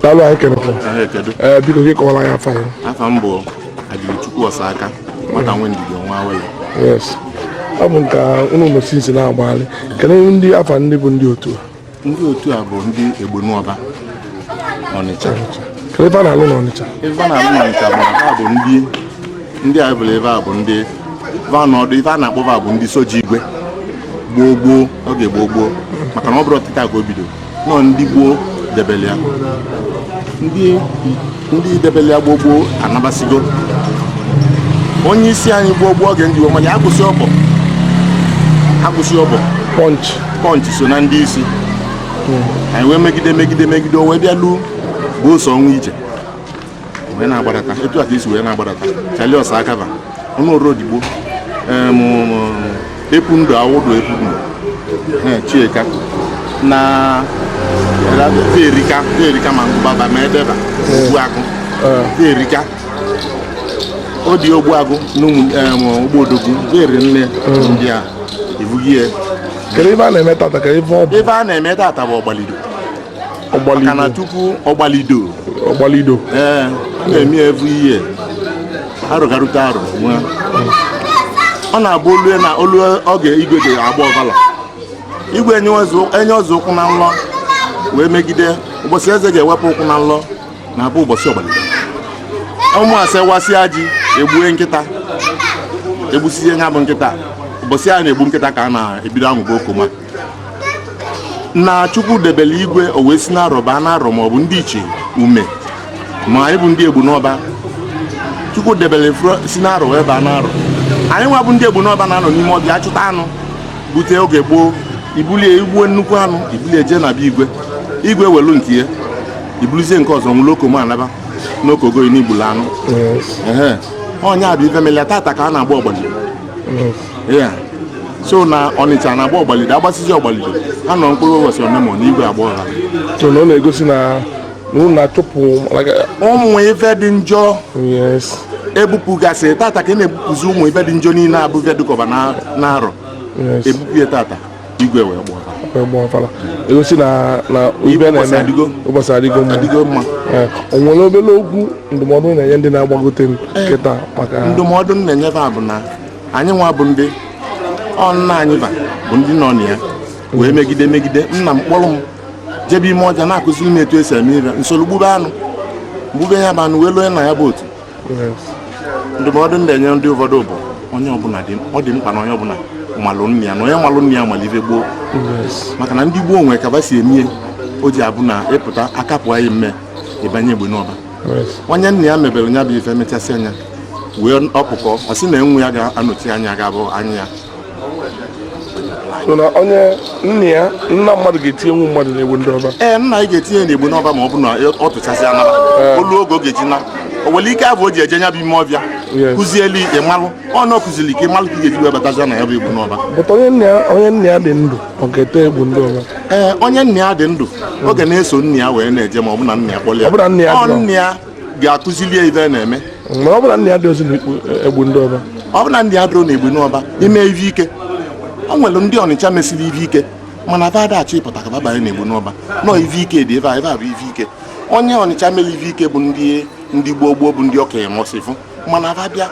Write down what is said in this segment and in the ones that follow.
daalụ anyị kenekwa ee biko gị kọwara anyị afa yị afa m bụ Ajụlụchukwu Ọsaka nwata nwe ndidi ọnwa awele yes ọ bụ nke unu na-eme since na-agbagharị kedu ndị afa ndị bụ ndị otu a ndị otu a bụ ndị Egbenuọba Ọnịcha ife fa na-alụ n'Ọnịcha ife fa na-alụ n'Ọnịcha bụ na fa bụ ndị ndị a bụla fa bụ ndị vanọdụ ife a na-akpọ fa bụ ndị soja igwe gboo gboo oge gboo gboo maka na ọ bụrọ tata ka o bido na ọ ndị gboo debele ya ndị ndị debele ya gboo gboo anabasigo onye isi anyị gboo gboo oge m ji wee malụ ya Agụsịobo Agụsịobo Punch Punch so na ndị isi anyị wee megide megide megide o wee bịa luo bụ ụsọ ọnwa ije wee na-agbadata etu a ka e si wee na-agbadata Charlie Ọsaka fa Ọnụọra Odigbo Epundu Awụdụ Epundu Chieka na Erika Erika ma Ngụba fa ma Ede fa Ogbuagụ Erika ọ dị ogbuagụ na ụmụogboodogwu eri nne ndị a ebughị ya kedu ife a na-eme tata ka ife ọ bụ ife a na-eme tata bụ ọgbalido maka na tupu Ọgbalido Ọgbalido ee a na-eme ya every year arọ ga-erute arọ nwa ọ na-abụ o lue na o lue oge igwe ji agba ọfala igwe enyezie enyezie ụkwụ na nlọ wee megide ụbọchị eze ga-ewepụ ụkwụ na nlọ na-abụ ụbọchị ọgbalido Ụmụase wasịa ji egbue nkịta egbusizie ya bụ nkịta ụbọchị a na-egbu nkịta ka a na-ebido aṅụba okoma na chukwu debele igwe o wee si n'arọ baa n'arọ ma ọ bụ ndị ichie ume ma anyị bụ ndị Egbenuọba chukwu debele fro- si n'arọ wee baa n'arọ anyị nwa bụ ndị Egbenuọba na-anọ n'ime ọfịa achụta anụ bute oge gboo i bulie i gbuo nnukwu anụ i bulie jee na be igwe igwe welu nke ya i buluzie nke ọzọ ṅụlụ okoma naba na o kogo yi na i gbulu anụ ehe ọ nya bụ ife melia tata ka a na-agba ọgbalido ya so na ọnịcha na-agba ọgbalido a gbasịzie ọgbalido a nọọ mkpụrụ ụbọchị onemone igwe agba ọfala so na ọ na-egosi na na unu na-achụpụ like, ụmụ ife dị njọ yes ebupụgasị tata ka a na-ebupụzi ụmụ ife dị njọ niile bụ ife dịkọba na- n'arọ yes ebupụ ya tata igwe wee gba ọfa- wee gbaa ọfala egosi na na ife a Ụbọchị na-eme adịgo. ụbọchị adịgo mma adịgo mma Eh, o nwere obere okwu ndụmọdụ ị na-enye ndị na-agbagote kịta maka ndụmọdụ m na-enye fa bụ na anyị nwa bụ ndị ọ nna anyị va bụ ndị nọ na ya wee megide megide nna m kpọrọ m jebe ime ọvịa na-akụziri m etu esi eme ive m soro gbube anụ gbube ya bụ anụ wee lụọ na ya bụ otu ndụmọdụ ndị enye ndị ụfọdụ bụ onye ọbụla dị ọ dị mkpa na onye ọbụla malụ nna ya na onye malụ nna ya malụ ive gboo maka na ndị gboo nwere ka va si eme ya o ji abụ na ị pụta aka pụa yị mme ị banye Egbenuọba onye nna ya mebere nya bụ ife mechasị a nyawa ọkụkọ ọ sị na nwa ya ga-anọchi anya ga-abụ anya ya so na onye nna ya nna mmadụ ga-etinyenwu mmadụ n'Egbenuọba ee nna anyị ga-etinye n'Egbenuọba ma ọ bụ na ọ tụchasị anaba o lue oge ọ ga-eji na o nwere ike abụ o ji eje nya bụ ime ọvịa Yes. kụzieli ịmalụ ọ na ọ kụziri ka ịmalụ ka ị ga-eji wee batazi nya bụ Egbenuọba but onye nna ya onye nna ya dị ndụ ọ ga-ete Egbenuọba. ee onye nna ya dị ndụ ọ ga na-eso nna ya wee na-eje ma ọ bụ na nna ya kpọrọ ya Ọ bụ na nna ya Ọ dị ndụ. nna ya ga-akụzili ya ive na-eme Mana ọ bụ na nna ya adịrọzi n'Egbenuọba. ọ bụ na nna ya adịrọ n'Egbenuọba i mee ive ike o nwere ndị ọnịcha mesịrị ive ike mana va ada achọ ịpụta ka va banye n'Egbenuọba na ive ike dị ebe a ebe a bụ ive ike onye ọnịcha mere ive ike bụ ndị ndị gboo gboo bụ ndị ọka emọsịfụ mana a bịa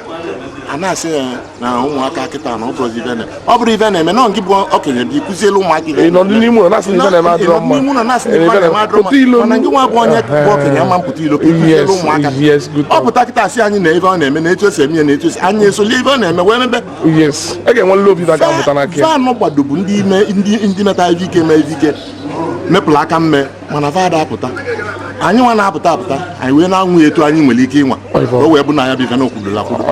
a na-asị ya na ụmụaka kịta na ọ bụrụ ive na ọ bụrụ ive na-eme na nke bụ okenye dị kụzielu ụmụaka ive nọ n'ime ụlọ na-asị ive na-eme adịrọ mma n'ime ụlọ na-asị ive na-eme adịrọ mma mana nke nwa bụ onye bụ okenye ama apụta ilo kụzielu ụmụaka ọ pụta kịta asị anyị na ive ọ na-eme na etu esi eme ya na etu esi anyị esoli ive ọ na-eme wee mebe fanụ gbado bụ ndị metara ive ike mee ive ike mepụrụ aka mme mana fa ada apụta anyị nwa na-apụta apụta anyị wee na-anwa ya etu anyị nwere ike ịnwa o wee bụ na ya bụ ife na okwudola kwudo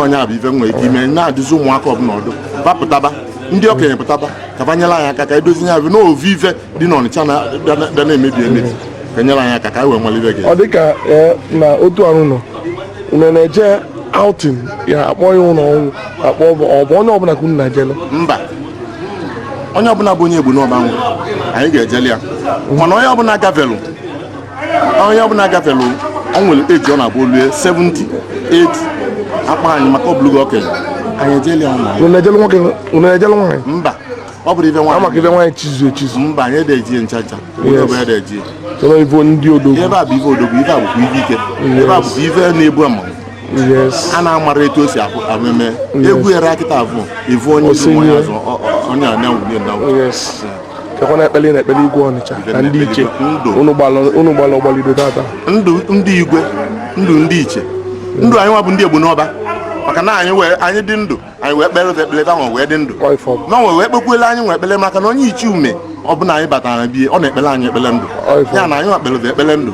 onye a bụ ife nwere ike ime na-adụzi ụmụaka ọbụla ọdụ va pụtaba ndị okenye pụtaba ka va nyere anyị aka ka edozi ya bụ n'ovu ife dị n'ọnịcha bịa na-emebi emebi ka nyere anyị aka ka anyị wee nwere ibe gị ọ dịka na otu arụ na unu na-eje outing ya akpọ ya ụlọ ọnwụ akpọ ọ bụ onye ọbụla ka unu na-ejele mba onye ọbụla bụ onye Egbenuọba nwụ anyị ga-ejeli ya mana onye ọbụla gafelu onye ọbụla gafelu ọ nwere age ọ na-abụ o lue 70 80 a kpọọ anyị maka ọbụlụgo okenye anyị ejeli ya ụlọ anyị. Unu ejelu nwoke unu ejelu nwaanyị mba ọ bụrọ ife ama ka nwaanyị ife nwaanyị chizu echizu mba anyị ada eje ncha ncha onye ọbụla ada eje chọrọ ife ndị odogwu ife a bụ ife odogwu ife a bụkwa ife ike ife a bụkwa ife na-ebu ama a na-amara etu o si ameme egwu ya rakịta bụ ivu onye isi onye azụ onye anyanwụ na kekwana ekpele na ekpele igwe ọnịcha na ndịichie unu gbalụ ọgbalido tata ndụ ndị igwe ndụ ndịichie ndụ anyị nwa bụ ndị Egbenuọba maka na anyị wee anyị dị ndụ anyị wee kpelu fa ekpele ka fa wee dị ndụ fa nwa wee kpekwuelu anyị nwa ekpele maka na onye ichie ume ọbụna anyị batara bie ọ na-ekpelu anyị ekpele ndụ ya na anyị nwa kpelu fa ekpele ndụ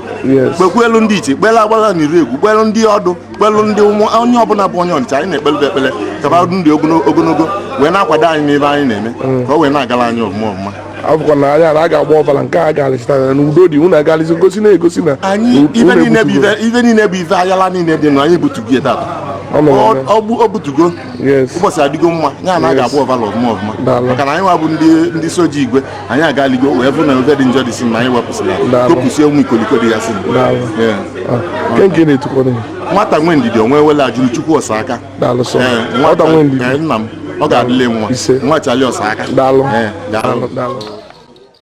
kpekwuelu ndị ichie kpelu agbala na iregwu kpelu ndị ọdụ kpelu ndị onye ọbụna bụ onye Ọnịcha anyị na-ekpelu fa ekpele ka fa dị ndụ ogonogo wee na-akwado anyị n'ife anyị na-eme mm. ka o wee na-agara anyị ọfụma ọfụma a fụkwa na anya na a ga-agba ọvala nke a ga-alịchitara na udo dị unu agalịzi gosi na-egosi na anyị unu ife niile bụ ebutugo. ife- ife niile bụ ife ayala niile dị nụ anyị butugo ya tata Ọ nọ Ọ- n'ọnụ. ọ bụ- ọ butugo Yes. ụbọchị adịgo mma ya na a Yes. ga-agba ọvala ọfụma ọfụma Daalụ. maka na anyị nwa bụ ndị ndị soja igwe anyị agaligo wee fụ na ife dị njọ dị si na anyị wepụsịrị ya Daalụ. topụsie nwa ikoliko dị ya si Daalụ. Yeah. Ah, nke nke na-etukwa na ya nwata nwe ndidi onwe wele Ajuluchukwu Ọsaka daalụ sọ Ee, nwata nwe ndidi ee, nna m ọ ga-adịlị nwa Ise. nwa Chali Ọsaka daalụ Ee, daalụ daalụ